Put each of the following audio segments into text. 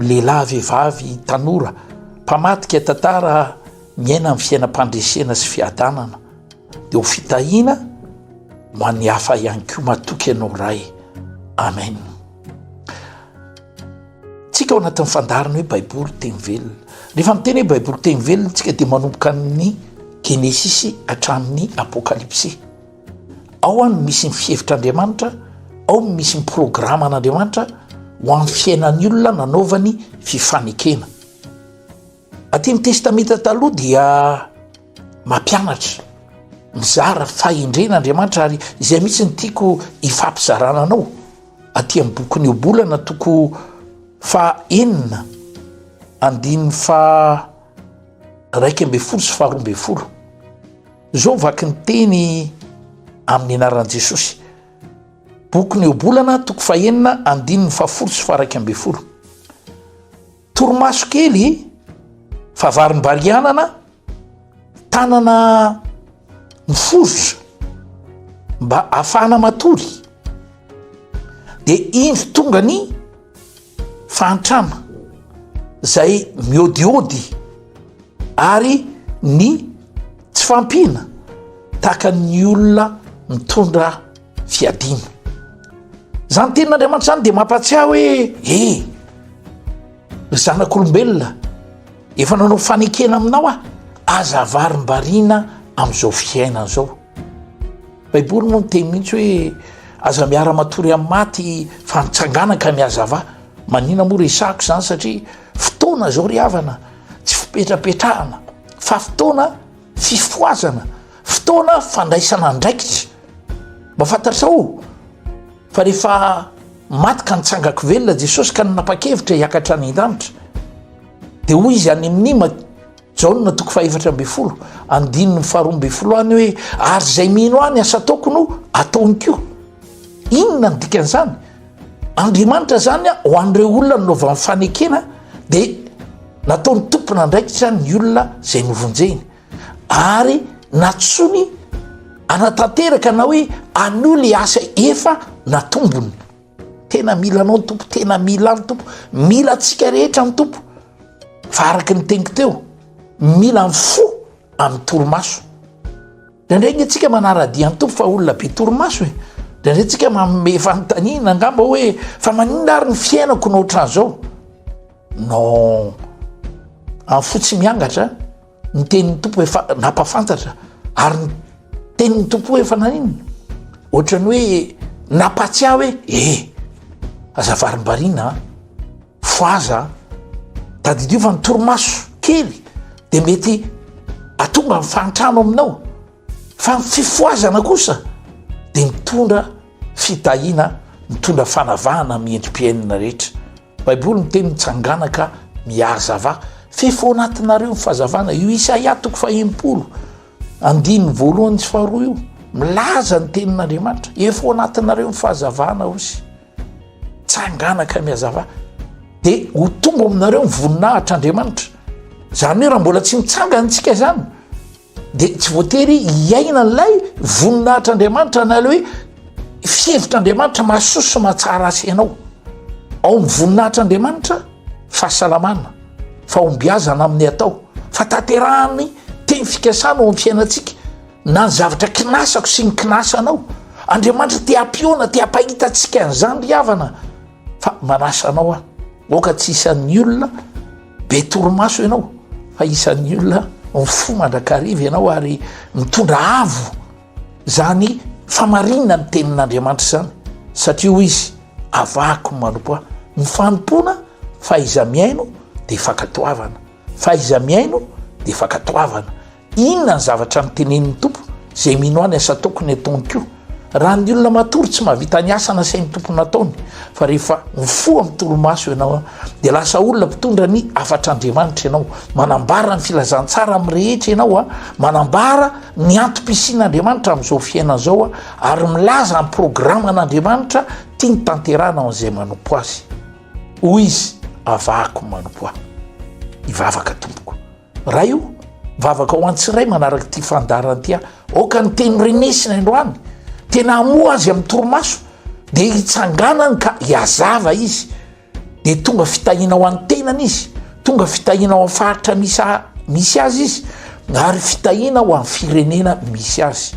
Lehilahy, vehivavy, tanora, mpamadika tantara miaina amin'ny fiainam-pandresena sy fiadanana dia ho fitahiana ho an'ny hafa ihany koa matoky ianao Ray. Amen. Tsika ao anatin'ny fandarina hoe Baiboly teny velona. Rehefa miteny hoe Baiboly teny velona tsika dia manomboka amin'ny Genesisy hatramin'ny Apokalypsy. Ao no misy ny fihevitr'Andriamanitra, ao no misy ny programan'Andriamanitra ho an'ny fiainan'ny olona nanaovany fifanekena. Aty amin'ny Testamenta Taloha dia mampianatra, mizara fahendrena Andriamanitra ary izay mihitsy ny tiako hifampizarana anao aty amin'ny bokin'ny Ohabolana toko fahenina andininy fa raika ambin'ny folo sy faharoa ambin'ny folo. Izao vaky ny teny amin'ny anaran'i Jesosy. Bokin'ny Ohabolana, toko fahenina, andininy fahafolo sy faharaika ambin'ny folo. Torimaso kely fa varimbarianana, tanana miforitra mba afahana matory. Dia indro tonga ny Fa antrama zay miodiody ary ny tsy fampina tahaka ny olona mitondra fiadina. Zany tenin'Andriamanitra zany de mampatsiahy hoe e ry zanak'olombelona efa nanao fanekena aminao aho aza avarimbariana am'zao fiainana zao. Baiboly moa miteny mihitsy hoe aza miara-matory amin'ny maty fa mitsangana ka mihazava. Manina moa resahako izany satria fotoana izao ry havana tsy fipetrapetrahana fa fotoana fifohazana, fotoana fandraisana andraikitra. Mba fantatrao fa rehefa maty ka nitsangako velona Jesosy ka nanapa-kevitra hiakatra any an-danitra dia hoy izy any amin'ny Jaona toko fahefatra ambin'ny folo andininy faharoa ambin'ny folo any hoe ary izay mino ahy ny asa ataoko no ataony koa. Inona ny dikan'izany? Andriamanitra zany ho an'ireo olona nanaovan'ny fanekena dia nataony tompon'andraikitra ny olona izay novonjeny ary natosoany anatanteraka na hoe anole asa efa natombony. Tena mila anao ny tompo tena mila any tompo mila antsika rehetra ny tompo fa araka ny teniko teo mila ny fo amin'ny torimaso ndraindray nge tsika manaradia ny tompo fa olona be torimaso e ndraindray tsika manome fanontaniana angamba hoe fa maninona ary ny fiainako no ohatran'izao non amin'ny fo tsy miangatra Ny tenin'ny Tompo efa nampafantatra ary ny tenin'ny Tompo efa naninona ohatran'ny hoe nampahatsiahy hoe eh aza varimbariana a foaza a tadidio fa ny torimaso kely dia mety atonga ny fahantrano aminao fa ny fifoazana kosa dia mitondra fitahiana mitondra fanavahana amin'ny endri-piainana rehetra Baiboly miteny mitsangana ka mihazava f'efa ao anatinareo ny fahazavana. Io Isaia toko fahenimpolo andininy voalohany sy faharoa io milaza ny tenin'Andriamanitra. Efa ao anatinareo ny fahazavana osy. Tsangana ka mihazava. Dia ho tonga aminareo ny voninahitr'Andriamanitra. Izany hoe raha mbola tsy mitsangana antsika izany dia tsy voatery hiaina an'ilay voninahitr'Andriamanitra na ilay hoe fihevitr'Andriamanitra mahasoa sy mahatsara azy ianao. Ao amin'ny voninahitr'Andriamanitra fahasalamana, fahombiazana amin'ny atao, fa tanterahany teny fikasana ao amin'ny fiainantsika na ny zavatra kinasako sy ny kinasanao. Andriamanitra te hampihaona, te hampahita antsika an'izany ry havana fa manasa anao aho aoka tsy isan'ny olona Be torimaso ianao fa isan'ny olona mifoha mandrakariva ianao ary mitondra avo izany famarinana ny tenin'Andriamanitra izany satria hoy izy avahako manompo ahy. Ny fanompoana fahaiza-mihaino dia fankatoavana, fahaiza-mihaino dia fankatoavana. Inona ny zavatra notenenin'ny Tompo izay mino ahy ny asa ataoko ny ataony koa? Raha ny olona matory tsy mahavita ny asa nasain'ny Tompo nataony, fa rehefa mifoha amin'ny torimaso ianao dia lasa olona mpitondra ny hafatr'Andriamanitra ianao, manambara ny filazantsara amin'ny rehetra ianao, manambara ny antom-pisian'Andriamanitra amin'izao fiainana izao ary milaza ny programan'Andriamanitra tiany tanterahana ho an'izay manompo Azy. Hoy izy, Avahako ny manompo Ahy. Hivavaka tompoko. Ray o! Vavaka ho an-tsiray manaraka ity fandaharana ity aho. Aoka ny teny renesina androany, tena hamoha azy amin'ny torimaso, dia hitsanganany ka hiazava izy, dia tonga fitahiana ho an'ny tenany izy, tonga fitahiana ho amin'ny faritra misy misy azy izy, ary fitahiana ho amin'ny firenena misy azy.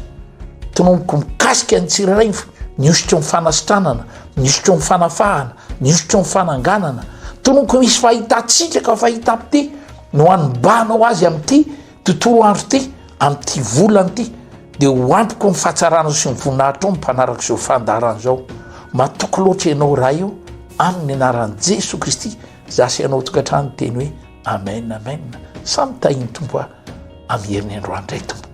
Tonomboko mikasika ny tsirairay ny hosotro ny fanasitranana, ny hosotro ny fanafahana, ny hosotro ny fananganana. Tonomboko misy fahitantsika ka fahitam-pite, no anmbanao azy amin'ity tontolo andro ity amin'ity volana ity dia ho ampiko ny fahatsaranao sy ny voninahitrao ny mpanaraka izao fandaharana izao matoky loatra ianao raha io amin'ny anaran'i jesoa kristy za sy ianao tokantrano teny hoe amen amen samy tahin'ny tompo a amin'ny heriny androany indray tompoko